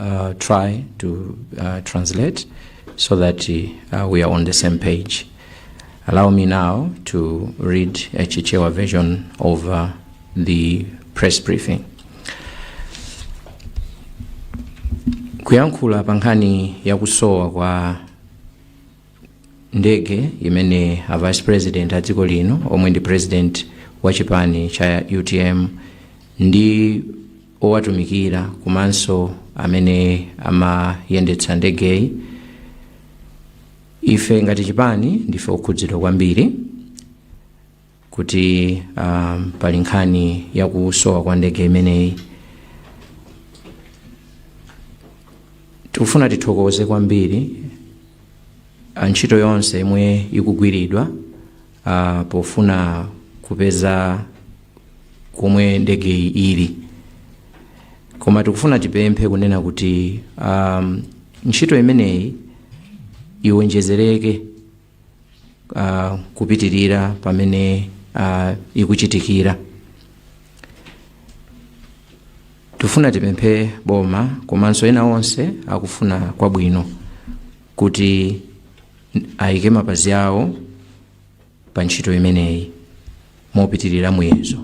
uh, try to uh, translate so that uh, we are on the same page. Allow me now to read a Chichewa version of uh, the press briefing. kuyankhula pa nkhani ya kusowa kwa ndege imene a vice president a dziko lino omwe ndi president wa chipani cha utm ndi owatumikira komanso amene amayendetsa ndegeyi ife ngati chipani ndife okhudzidwa kwambiri kuti uh, pali nkhani ya kusowa kwa ndege imeneyi tikufuna tithokoze kwambiri ntchito yonse yomwe ikugwiridwa uh, pofuna kupeza komwe ndegeyi ili koma tikufuna tipemphe kunena kuti um, ntchito imeneyi iwonjezereke uh, kupitirira pamene uh, ikuchitikira tifuna tipemphe boma komanso ena onse akufuna kwabwino kuti ayike mapazi awo pa ntchito imeneyi mopitirira muyezo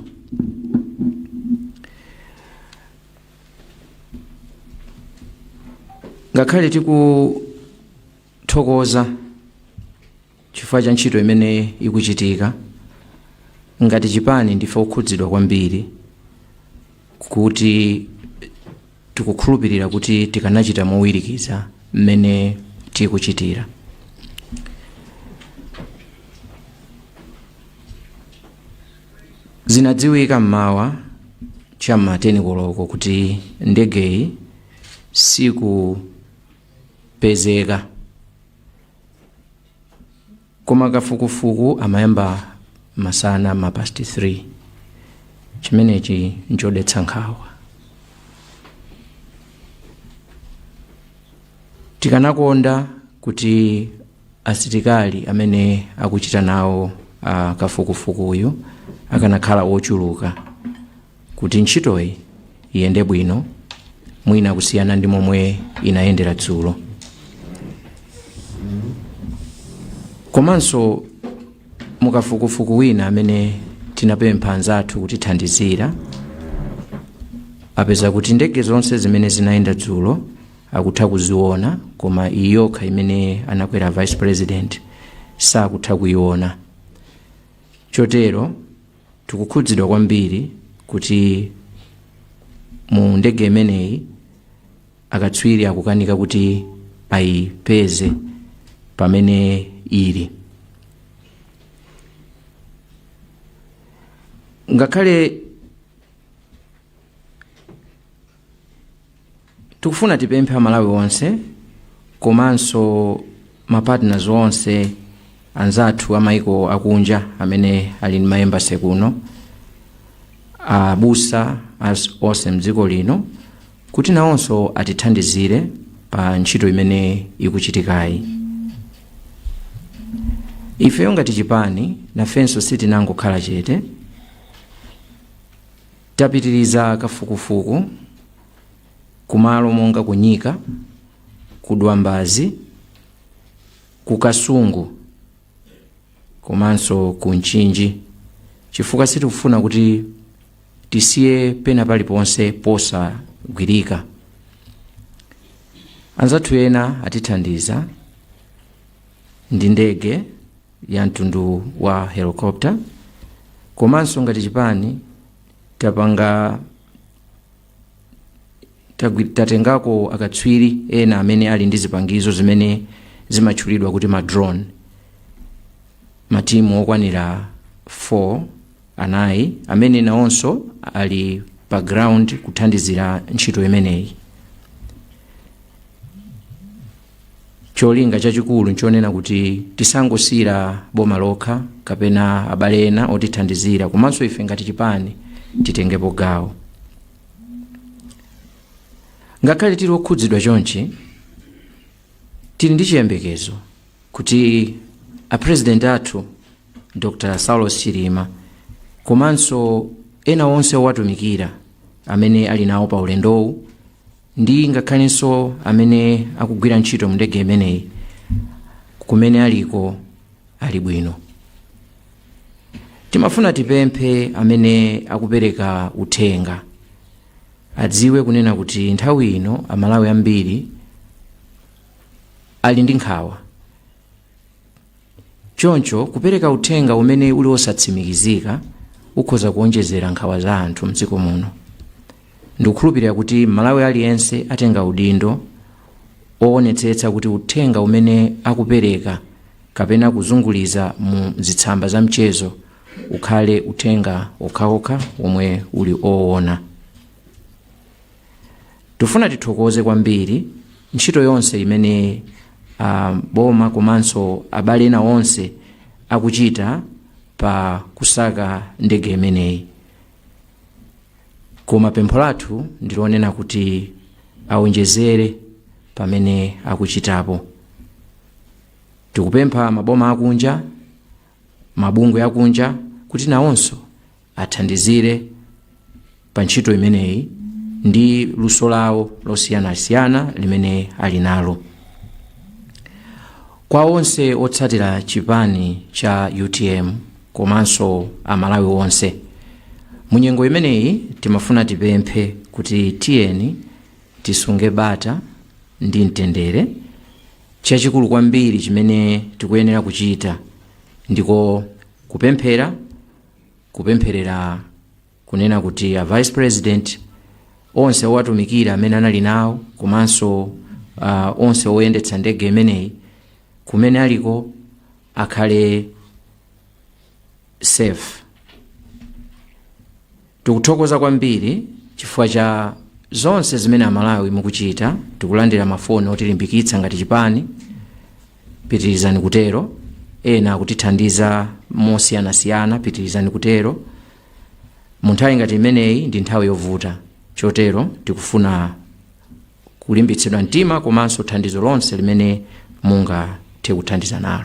ngakhale tikuthokoza Chifukwa cha ntchito imene ikuchitika, ngati chipani ndife okhudzidwa kwambiri kuti tikukhulupirira kuti tikanachita mowirikiza mmene tikuchitira. Zinadziwika m'mawa cha m'ma 10 koloko kuti ndegeyi sikupezeka. koma kafukufuku amayamba masana ma past 3 chimenechi nchodetsa nkhawa tikanakonda kuti asilikali amene akuchita nawo uh, kafukufukuyu akanakhala ochuluka Kuti ntchitoyi iyende bwino mwina kusiyana ndi momwe inayendera dzulo komanso mukafukufuku wina amene tinapempha anzathu kutithandizira apeza kuti ndege zonse zimene zinayenda dzulo akutha kuziona koma iyi yokha imene anakwera vice president sakutha kuiona chotero Tikukhudzidwa kwambiri kuti mu ndege imeneyi akatswiri akukanika kuti ayipeze pamene ili. Ngakhale Tikufuna tipemphe a Malawi onse komanso ma partners onse anzathu a maiko akunja amene ali ndi ma embassy kuno, abusa onse mdziko lino kuti nawonso atithandizire pa ntchito imene ikuchitikayi. Ifeyo ngati chipani nafenso sitinangokhala chete, tapitiriza kafukufuku, ku malo monga ku Nyika, ku Dwambazi, ku Kasungu komanso ku Mchinji chifukwa sitikufuna kuti tisiye pena paliponse posagwirika. Anzathu ena atithandiza ndi ndege ya mtundu wa helicopter komanso ngati chipani tapanga tatengako akatswiri ena amene ali ndi zipangizo zimene zimatchulidwa kuti ma drone matimu okwanira 4 anayi amene nawonso ali pa ground kuthandizira ntchito imeneyi cholinga chachikulu nchonena kuti tisangosiyira boma lokha kapena abale ena otithandizira komanso ife ngati chipani titengepo gawo ngakhale tili okhudzidwa chonchi tili ndi chiyembekezo kuti apresident athu dr saulos chilima komanso ena onse owatumikira amene ali nawo pa ulendowu ndi ngakhalenso amene akugwira ntchito mu ndege imeneyi kumene aliko ali bwino timafuna tipemphe amene akupereka uthenga adziwe kunena kuti nthawi ino amalawi ambiri ali ndi nkhawa Choncho, kupereka uthenga umene uli osatsimikizika ukhoza kuwonjezera nkhawa za anthu m'dziko muno. Ndikukhulupirira kuti Mmalawi aliyense atenga udindo owonetsetsa kuti uthenga umene akupereka kapena kuzunguliza mu zitsamba za mchezo ukhale uthenga okhaokha womwe uli owona. Tifuna tithokoze kwambiri ntchito yonse imene uh, boma komanso abale ena onse akuchita pa kusaka ndege imeneyi koma pempho lathu ndilonena kuti awonjezere pamene akuchitapo tikupempha maboma akunja mabungwe akunja kuti nawonso athandizire pa ntchito imeneyi ndi luso lawo losiyanasiyana limene ali nalo kwa onse otsatira chipani cha utm komanso amalawi onse munyengo imeneyi timafuna tipemphe kuti tiyeni Tisunge bata ndi mtendere. Chachikulu kwambiri chimene tikuyenera kuchita ndiko kupemphera, kupempherera kunena kuti a vice president onse owatumikira amene anali nawo komanso uh, onse oyendetsa ndege imeneyi kumene aliko akhale safe Tikuthokoza kwambiri chifukwa cha zonse zimene amalawi mukuchita. Tikulandira mafoni otilimbikitsa ngati chipani, pitirizani kutero. Ena akutithandiza mosiyanasiyana, pitirizani kutero. Mu nthawi ngati imeneyi ndi nthawi yovuta, chotero tikufuna kulimbitsidwa mtima komanso thandizo lonse limene mungathe kuthandiza nalo.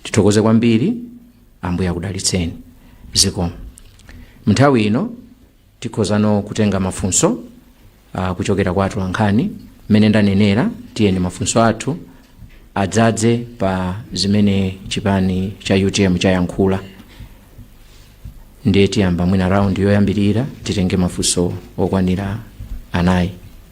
Tithokoze kwambiri. ambuye akudalitseni zikomo mnthawi ino tikhozano kutenga mafunso uh, kuchokera kwa atolankhani mmene ndanenera tiyeni mafunso athu adzadze pa zimene chipani cha utm chayankhula ndiye tiyamba mwina raundi yoyambirira titenge mafunso okwanira anayi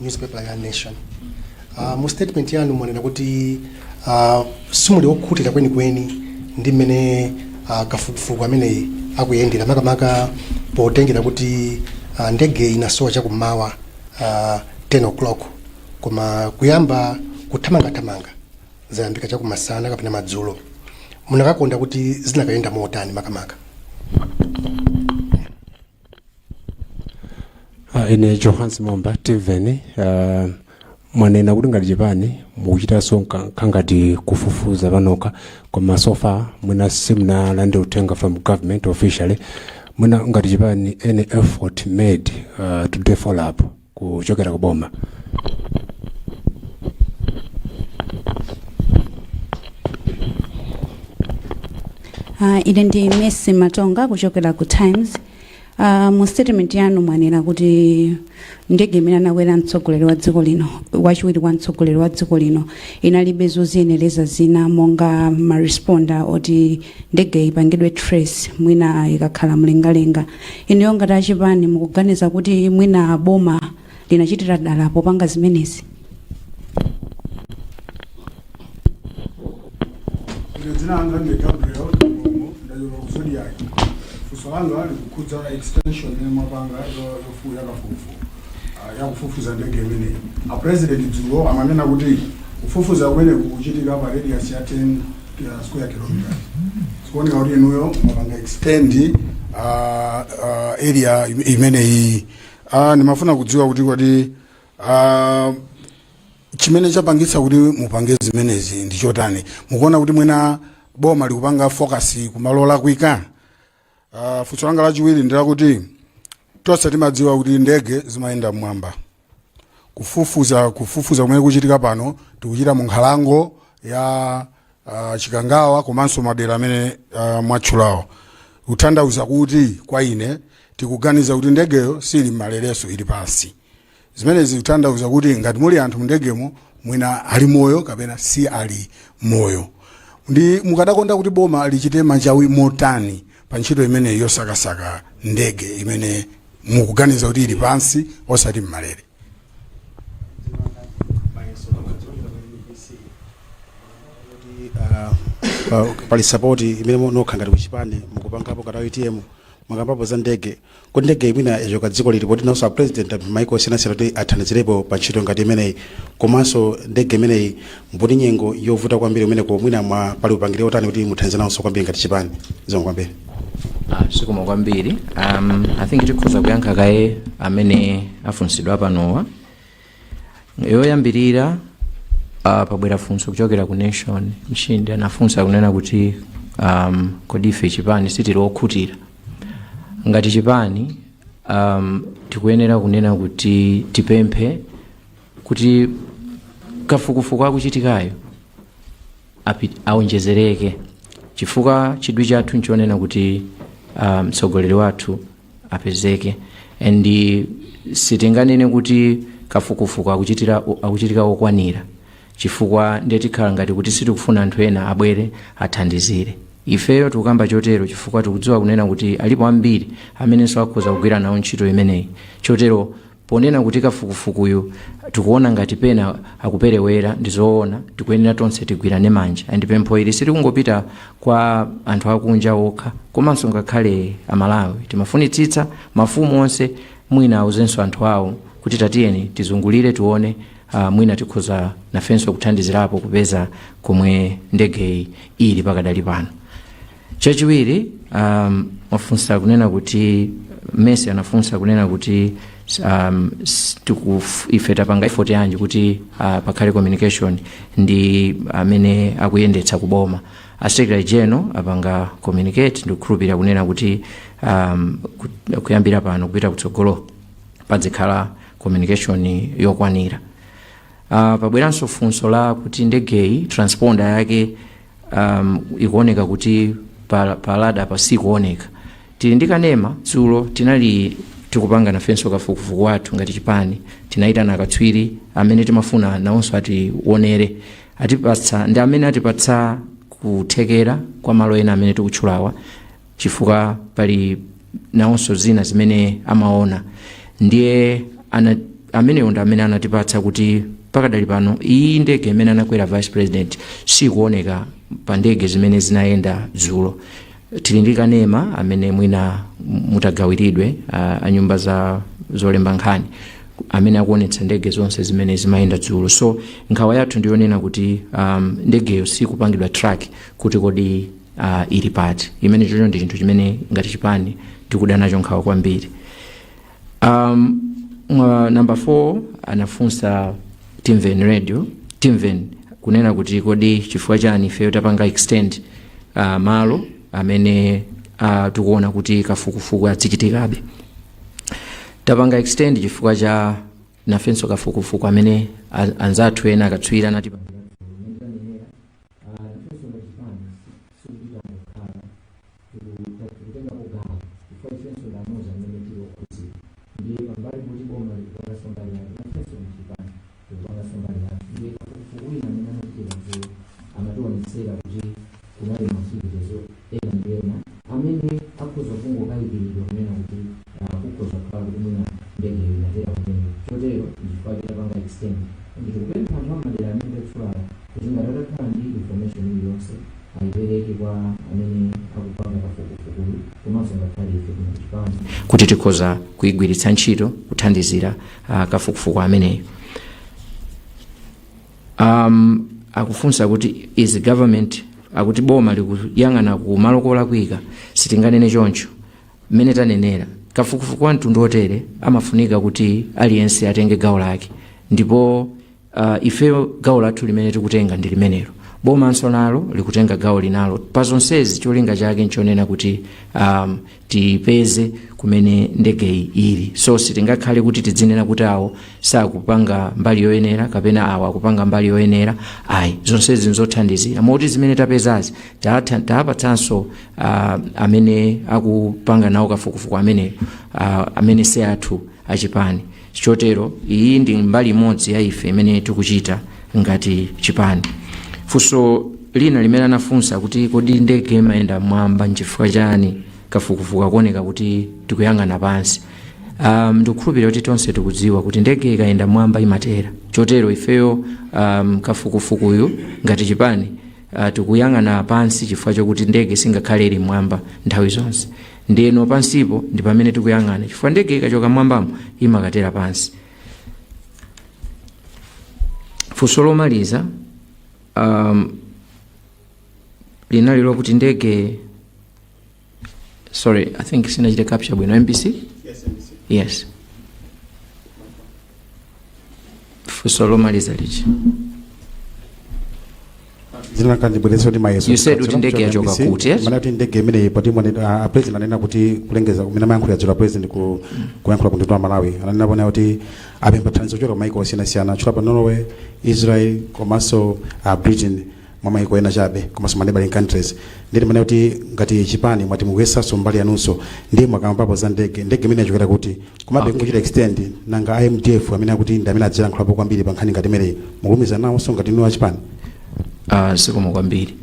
newspaper ya nation uh, mu statement yanu mwanena kuti uh, simuli okhutira kwenikweni ndi mmene uh, kafukufuku ameneyu akuyendera makamaka potengera kuti uh, ndege inasowa chakummawa uh, 10 o'clock koma kuyamba kuthamangathamanga zayambika chakumasana kapena madzulo munakakonda kuti zinakayenda motani makamaka Ah, ine Johannes momba timveni ah, mwanena kuti ngati chipani mukuchitanso kangati kufufuza panokha koma so far mwina simunalandire uthenga from government officially mwina ngati chipani any effort made ah, to follow up kuchokera ku boma Uh, ine ndi Mercy Matonga kuchokera ku Times. Uh, mu statement yanu mwanena kuti ndege imene anakwera mtsogoleri wa dziko lino wachiwiri kwa mtsogoleri wa dziko lino inalibe zoziyenereza zina monga ma transponder oti ndege ipangidwe trace mwina ikakhala mlengalenga Inuyo ngati achipani mukuganiza kuti mwina boma linachitira dala popanga zimenezi? Ine dzina langa ndi Gabriel Kamlomo ndachokera ku Zodiac. Funso langa likukhudza extension imene mwapanga yo- yofu- yakafukufuku ah, yakufufuza ndege imeneyi. A president dzulo amanena kuti kufufuza kumeneku kuchitika pa radius ya 10 square kilometers zikuoneka kuti inuyo mwapanga extend uh, uh, area im- imeneyi uh, ndimafuna kudziwa kuti kodi uh, chimene chapangitsa kuti mupange zimenezi ndi chotani mukuona kuti mwina boma likupanga focus kumalo olakwika Uh, funso langa lachiwiri ndi lakuti tonse timadziwa kuti ndege zimayenda mmwamba kufufuza kufufuza kumene kuchitika pano tikuchita mu nkhalango ya uh, Chikangawa komanso madera amene uh, mwatchulawo kutanthauza kuti kwa ine tikuganiza kuti ndegeyo siili mmalerenso ili pansi zimenezi zikutanthauza kuti ngati muli anthu mndegemo mwina ali moyo kapena si ali moyo nde mukadakonda kuti boma lichite machawi motani pa ntchito imeneyi yosakasaka ndege imene mukuganiza kuti ili pansi osati mmalere pali support imene nokhanu ngati kuchipani mukupangapo ngati UTM mwakambapo za ndege kodi ndege imeneyi ichoka dziko liti poti nawonso apresident apempha maiko osiyanasiyana kuti athandizirepo pa ntchito ngati imeneyi komanso ndege imeneyi mbuomo nyengo yovuta kwambiri umeneko mwina mwa pali upangiri otani kuti muthandize nawonso kwambiri ngati chipani zikomo kwambiri Ah, zikomo kwambiri um, i think tikhoza kuyankha kaye amene afunsidwa panowa yoyambirira uh, pabwera funso kuchokera ku Nation mshindi anafunsa kunena kuti um, kodi ife chipani sitili okhutira ngati chipani um, tikuyenera kunena kuti tipemphe kuti kafukufuku akuchitikayo api- aonjezereke chifukwa chidwi chathu nchonena kuti ah, mtsogoleri wathu apezeke and sitinganene kuti kafukufuku akuchitika ngokwanira chifukwa ndiye tikhala ngati kuti sitikufuna anthu ena abwere athandizire ifeyo tikukamba chotero chifukwa tikudziwa kunena kuti alipo ambiri amenenso akhoza kugwira nawo ntchito imeneyi chotero Ponena kuti kafukufukuyu tikuona ngati pena akupelewera ndizoona tikuyenera tonse tigwirane manja and pempho ili sitikungopita kwa anthu akunja okha komanso ngakhale a Malawi timafunitsitsa mafumu onse mwina auzenso anthu awo kuti tatiyeni tizungulire tione uh, mwina tikhoza nafenso kuthandizirapo kupeza komwe ndegeyi ili pakadali pano. chachiwiri um, mwafunsa kunena kuti Mercy anafunsa kunena kuti um, s- tikuf- ife tapanga effort yanji kuti uh, pakhale communication ndi amene akuyendetsa kuboma a secretary general apanga communicate ndikukhulupirira kunena kuti um, ku- kuyambira pano kupita kutsogolo padzikhala communication yokwanira uh, pabweranso funso la kuti ndegeyi transponder yake um, ikuoneka kuti pa, pa radar apa sikuoneka tili ndi kanema dzulo tinali tikupanga nafenso kafukufuku wathu ngati chipani tinayitana akatswiri amene timafuna nawonso atiwonere atipatsa ndi amene atipatsa kuthekera kwa malo ena amene tikutchulawa chifukwa pali nawonso zina zimene amaona ndiye ana, amenewo ndi amene anatipatsa kuti pakadali pano iyi ndege imene anakwera vice president sikuoneka pa ndege zimene zinayenda dzulo tili ndi kanema amene mwina mutagawiridwe uh, anyumba za zolemba nkhani amene akuonetsa ndege zonse zimene zimayenda dzulo so nkhawa yathu ndiyonena kuti um, ndegeyo sikupangidwa track kuti kodi uh, ili pati imene chocho ndi chinthu chimene ngati chipani tikuda nacho nkhawa kwambiri um, namba 4 anafunsa Timveni radio Timveni kunena kuti kodi chifukwa chani ifeyo tapanga extend uh, malo amene uh, tikuona kuti kafukufuku adzichitikabe tapanga extend chifukwa cha nafenso kafukufuku amene a- anzathu ena akatswiri anati Ifenso ngati chipani sitikuchita mokhala tikutengapo gawo chifukwa ifenso ndi amodzi amene tili okhudzidwa ndiye pambali poti boma likupanganso mbali yake nafenso ngati chipani tikupanganso mbali yathu ndiye kafukufuku wina amene anachitika dzulo amatiwonetsera kuti kunali ma activities ena ndi ena amene akhoza kungokayikiridwa kunena kuti uh, kukhoza kukhala kuti mwina ndegeyo inatera kumene chotero ndichifukwa chake tapanga extend ndi tikupempha anthu amadera amene tatchulawo kuti ngati atakhala ndi information iliyonse ayipereke kwa amene akupanga kafukufukuyu komanso ngakhale ife kuno kuchipani kuti tikhoza kuyigwiritsa ntchito kuthandizira uh, kafukufuku ameneyo um, akufunsa kuti is government akuti boma likuyang'ana ku malo kolakwika sitinganene choncho mmene tanenera kafukufuku wa mtundu otere amafunika kuti aliyense atenge gawo lake ndipo uh, ifeyo gawo lathu limene tikutenga ndi limenelo bomanso nalo likutenga gawo linalo pa zonsezi cholinga chake nchonena kuti um, tipeze kumene ndegeyi ili so sitingakhale kuti tidzinena kuti awo sakupanga mbali yoyenera kapena awo akupanga mbali yoyenera ayi zonsezi nzothandizira moti zimene tapezazi tatha- tapatsanso ah, amene akupanga nawo kafukufuku ameneyo ah, amene si athu achipani Chotero iyi ndi mbali imodzi ya ife imene tikuchita ngati chipani. Funso lina limene anafunsa kuti kodi ndege imayenda mmwamba nchifukwa chani kafukufuku akuoneka kuti tikuyang'ana pansi. Um, ndikukhulupirira kuti tonse tikudziwa kuti ndege ikayenda mmwamba imatera. Chotero ifeyo um, kafukufukuyu ngati chipani uh, tikuyang'ana pansi chifukwa chokuti ndege singakhale ili mmwamba nthawi zonse. ndeno pansipo ndi pamene tikuyang'ana chifukwa ndege ikachoka mwambamo imakatera pansi funso lomaliza um, linali lokuti ndege sorry i think sinachite capture bwino mbc yes funso lomaliza lichi zina kanjibweresa kuti mayeso You said kuti ndege yachoka kuti, yes? mwina kuti ndege imeneyi poti mwene- ah, a president anena kuti kulengeza kumene amayankhula dzulo a president ku kuyankhula ku mtundu wa malawi ananenapo kuti apempha thandizo kuchokera kumaiko osiyanasiyana anatchulapo norway israel komanso ah, britain mwa maiko ena chabe komanso ma neighboring countries ndiye mwina kuti ngati chipani mwati mukuyesanso mbali yanunso ndiye mwakambapo za ndege ndege imene yachokera kuti komabe Okay. ngochita extend nanga a mdf amene akuti ndi amene adzilankhulapo kwambiri pa nkhani ngati imeneyi mukulumikizana nawonso ngati inu achipani uh, zikomo kwambiri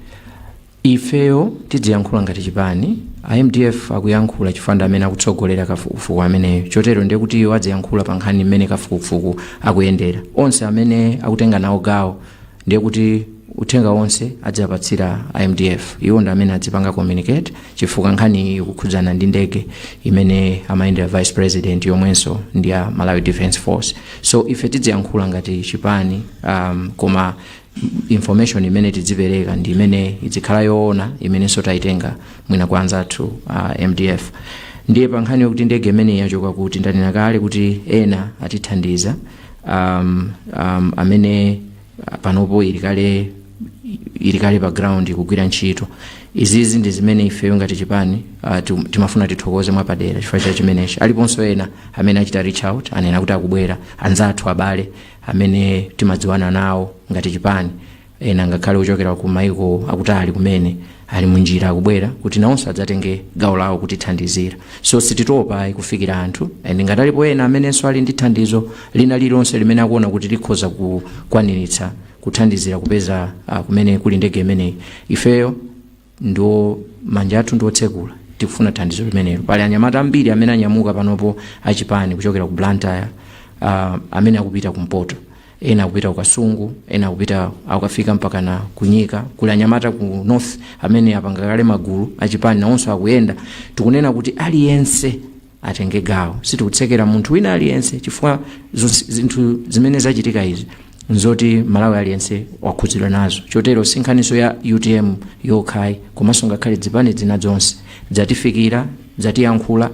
ifeyo tidziyankhula ngati chipani a mdf akuyankhula chifukwa ndi amene akutsogolera kafukufuku ameneyo chotero ndiye kuti iwo adziyankhula pa nkhani imene kafukufuku akuyendera onse amene akutenga nawo gawo ndiye kuti uthenga wonse adziapatsira a mdf iwo ndi amene adzipanga communicate chifukwa nkhani iyi ikukhudzana ndi ndege imene amayendera vice president yomwenso ndi ya malawi defence force so ife tidziyankhula ngati chipani um, koma information imene tidzipereka ndi imene idzikhala yoona imenenso tayitenga mwina kwa anzathu uh, mdf ndiye pa nkhani yokuti ndege imeneyi yachoka kuti ndanena kale kuti ena atithandiza um, um, amene uh, panopo ili kale ili kale pa ground ikugwira ntchito izizi ndi zimene ifeyo ngati chipani uh, tim- timafuna tithokoze mwapadera chifukwa cha chimenechi aliponso ena amene achita reach out anena kuti akubwera anzathu abale amene timadziwana nawo ngati chipani Ena, ngakhale ochokera ku maiko akutali kumene, ali munjira akubwera kuti nawonso adzatenge gawo lawo kutithandizira. So sititopa ayi kufikira anthu and ngati alipo ena amenenso ali ndi thandizo lina lililonse limene akuona kuti likhoza kukwaniritsa kuthandizira kupeza ah, kumene kuli ndege imeneyi, ifeyo Ndiye manja athu ndi otsekula. Tikufuna thandizo limenelo. Pali anyamata ambiri amene anyamuka panopo a chipani kuchokera ku Blantyre, uh, amene akupita kumpoto, ena akupita ku Kasungu, ena akupita akukafika mpaka na ku Nyika. Kuli anyamata ku north amene apanga kale magulu a chipani, nawonso akuyenda. Tikunena kuti aliyense atenge gawo sitikutsekera munthu wina aliyense chifukwa zonse- zinthu zimene zachitika izi nzoti malawi aliyense wakhudzidwa nazo chotero sinkhaniso ya utm yokha ayi komanso ngakhale dzipani zina zonse dzatifikira dzatiyankhula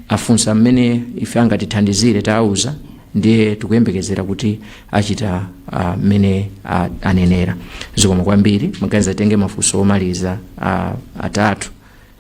afunsa mmene ife angatithandizire tawauza ndiye tikuyembekezera kuti achita ah, mmene ah, anenera zikomo kwambiri ndiganiza titenge mafunso omaliza ah, atatu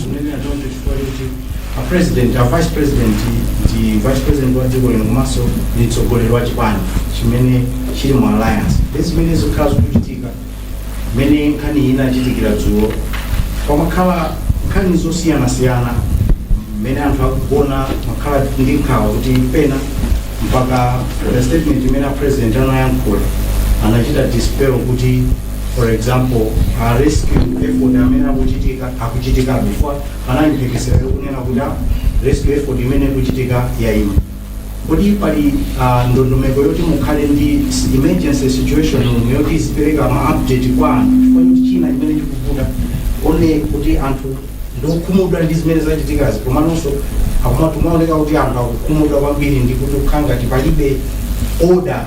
Zimene atoto chifukwa choti a president a vice president ndi vice president wa dziko lino komanso ndi mtsogoleri wa chipani chimene chili mu alliance ndi zimene zikhala zikuchitika mmene nkhani iyi inachitikira dzulo pamakhala nkhani zosiyanasiyana mmene anthu akugona amakhala ndi nkhawa kuti pena mpaka the statement imene a president anayankhula anachita dispel kuti for example a rescue effort amene akuchitika akuchitika before panali mphekesera yokunena kuti ah, rescue effort imene ikuchitika yaima kodi pali ah, ndondomeko yoti mukhale ndi s- emergency situation room yoti izipereka ma update kwa anthu chifukwa choti china chimene chikuvuta one kuti anthu ndiokhumudwa ndi zimene zachitikazi komanso zikumaoneka kuti anthu akukhumudwa kwambiri ndi kuti kukhala ngati palibe order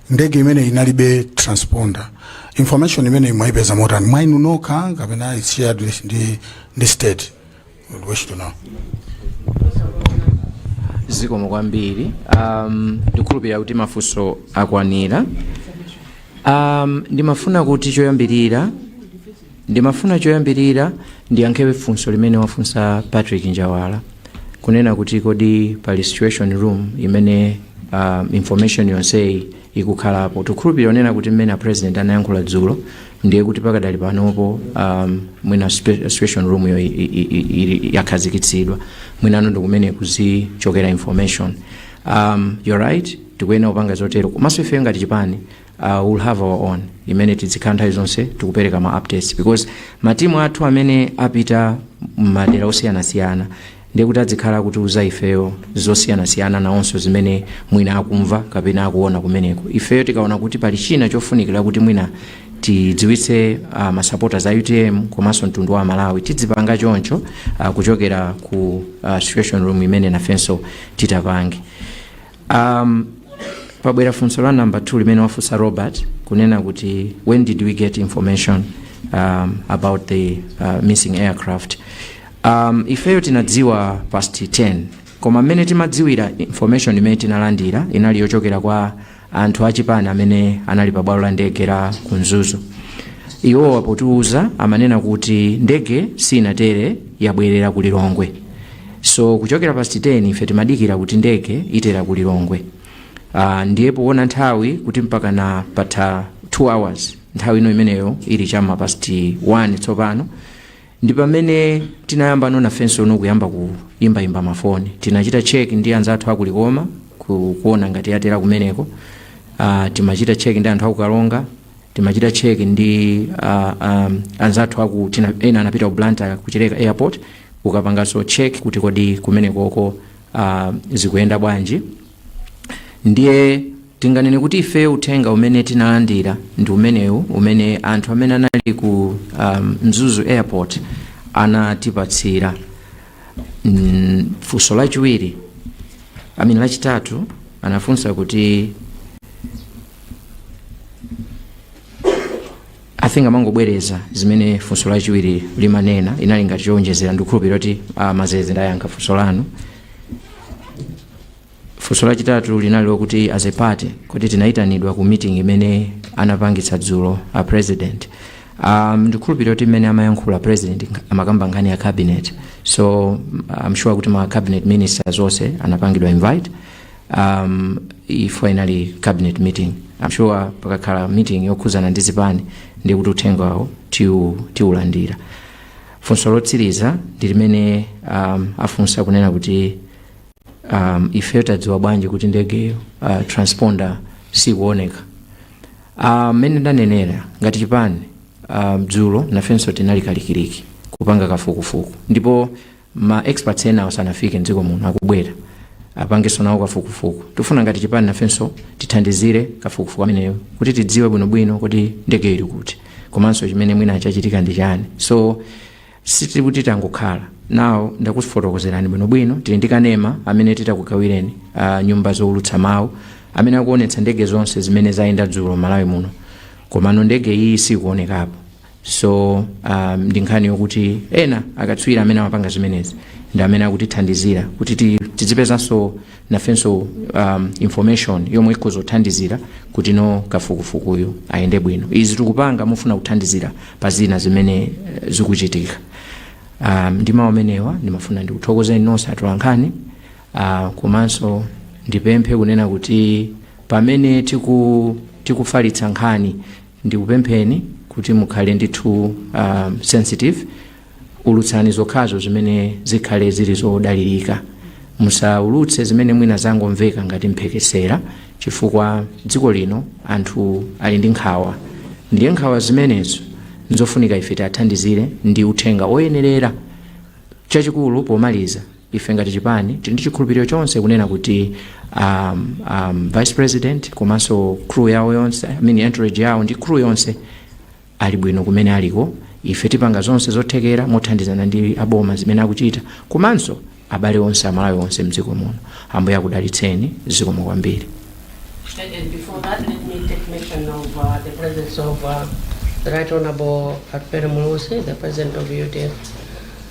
ndege imene inalibe transponder information imene mwaipeza motani mwainu nokha kapena it's shared with the state We wish to know zikomo kwambiri um, ndikhulupirira kuti mafunso akwanira um, ndimafuna kuti choyambirira ndimafuna choyambirira ndiyankhewe funso limene wafunsa patrick njawala kunena kuti kodi pali situation room imene um, information yonseyi ikukhalapo tikhulupirira kunena kuti mmene a president anayankhula dzulo ndiye kuti pakadali panopo um, mwina spe- situation room yo i- i- i- ili- yakhazikitsidwa mwinano ndikumene kuzichokera information um, you're right tikuyenera kupanga zotero komanso ife ngati chipani uh, we'll have our own imene tidzikhala nthawi zonse tikupereka ma updates because matimu athu amene apita m'madera osiyanasiyana ndiye kuti adzikhala akutiuza ifeyo zosiyanasiyana nawonso zimene mwina akumva kapena akuona kumeneko ifeyo tikaona kuti pali china chofunikira kuti mwina tidziwitse uh, masapota a utm komanso mtundu wa malawi tidzipanga choncho uh, kuchokera ku uh, situation room imene nafenso titapange Um, pobwera funso la namba 2 limene wafunsa robert kunena kuti when did we get information um, about the uh, missing aircraft um, ifeyo tinadziwa past 10 koma mmene timadziwira information imene tinalandira inali yochokera kwa anthu achipani amene anali pa bwalo la ndege la ku mzuzu iwowa potiuza amanena kuti ndege sinatere yabwerera ku lilongwe So kuchokera past 10 ife timadikira kuti ndege itera ku Lilongwe. Uh, ndiye poona nthawi kuti mpakana patha 2 hours nthawi ino imeneyo ili chama past 1 tsopano ndi pamene tinayamba no nafenso no kuyamba kuimbaimba mafoni tinachita check ndi anzathu aku likoma ku, kuona ngati yatera kumeneko uh, timachita check ndi anthu aku karonga timachita check ndi uh, um, anzathu aku tina ena anapita ku Blantyre ku Chileka airport kukapanganso check kuti kodi kumenekoko uh, zikuyenda bwanji ndiye tinganene kuti ife uthenga umene tinalandira ndi umenewu umene anthu amene anali ku um, mzuzu airport anatipatsira mm, funso lachiwiri amene lachitatu anafunsa kuti i think amangobwereza zimene funso lachiwiri limanena inali ngati chowonjezera ndikukhulupirira kuti uh, mazeze ndayankha funso lanu funso lachitatu linali lokuti as a party kuti tinayitanidwa ku meeting imene anapangitsa dzulo a president um, ndikhulupirira kuti mmene amayankhula president amakamba nkhani ya cabinet so i'm sure kuti ma cabinet ministers onse anapangidwa invite um, ife inali cabinet meeting I'm sure pakakhala meeting yokhuzana ndi zipani ndi kuti uthenga wawo tiu- tiulandira funso lotsiriza ndi limene um, afunsa kunena kuti um, ife tadziwa bwanji kuti ndegeyo uh, transponder sikuoneka Ah, mmene ndanenera ngati chipani ah, dzulo nafenso tinali kalikiliki kupanga kafukufuku ndipo ma experts ena osanafike mdziko muno akubwera apangenso nawo kafukufuku tifuna ngati chipani nafenso tithandizire kafukufuku ameneyo kuti tidziwe bwinobwino kuti ndege ili kuti komanso chimene mwina chachitika ndi chani so sitili kuti tangokhala no ndakufotokozerani bwinobwino tili ndi kanema amene titakugawireni uh, nyumba zowulutsa mawu amene akuonetsa ndege zonse zimene zayenda dzulo malawi muno komano ndege iyi sikuonekapo so um, ndi nkhani yokuti ena akatswiri amene amapanga zimenezi ndi amene akutithandizira kuti ti- tidzipezanso nafenso um, information yomwe ikhoza kuthandizira kuti no kafukufukuyu ayende bwino izi tikupanga pofuna kuthandizira pa zina zimene eh, zikuchitika um, ndi mawu amenewa ndimafuna ndikuthokozeni nonse atolankhani uh, komanso ndipemphe kunena kuti pamene tiku, tikufalitsa nkhani Ndikupempheni kuti mukhale ndithu sensitive, ulutsani zokhazo zimene zikhale zili zodalirika. Musaulutse zimene mwina zangomveka ngati mphekesera chifukwa dziko lino anthu ali ndi nkhawa ndiye nkhawa zimenezo nzofunika ife tiathandizire ndi uthenga woyenerera. Chachikulu pomaliza. Ife ngati chipani tili ndi chikhulupiriro chonse kunena kuti um, um, vice president komanso crew yawo yonse I mean entourage yawo ndi crew yonse ali bwino kumene aliko ife tipanga zonse zothekera mothandizana ndi aboma zimene akuchita komanso abale onse amalawi onse mdziko muno ambuye akudalitseni zikomo kwambiri And, and before that, let me take mention of uh, the presence of uh, the Right Honorable Atupele Muluzi, the President of UDF.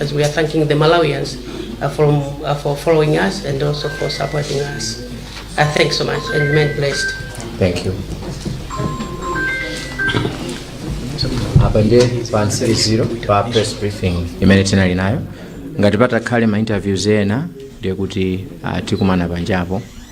as we are thanking the Malawians uh, from, uh, for following us and also for supporting us. Uh, thanks so much and remain blessed. Thank you. apa ndiye pamtsiriziro pa press briefing imene tinali nayo ngati patakhale ma interviews ena ndiye kuti ah, tikumana panjapo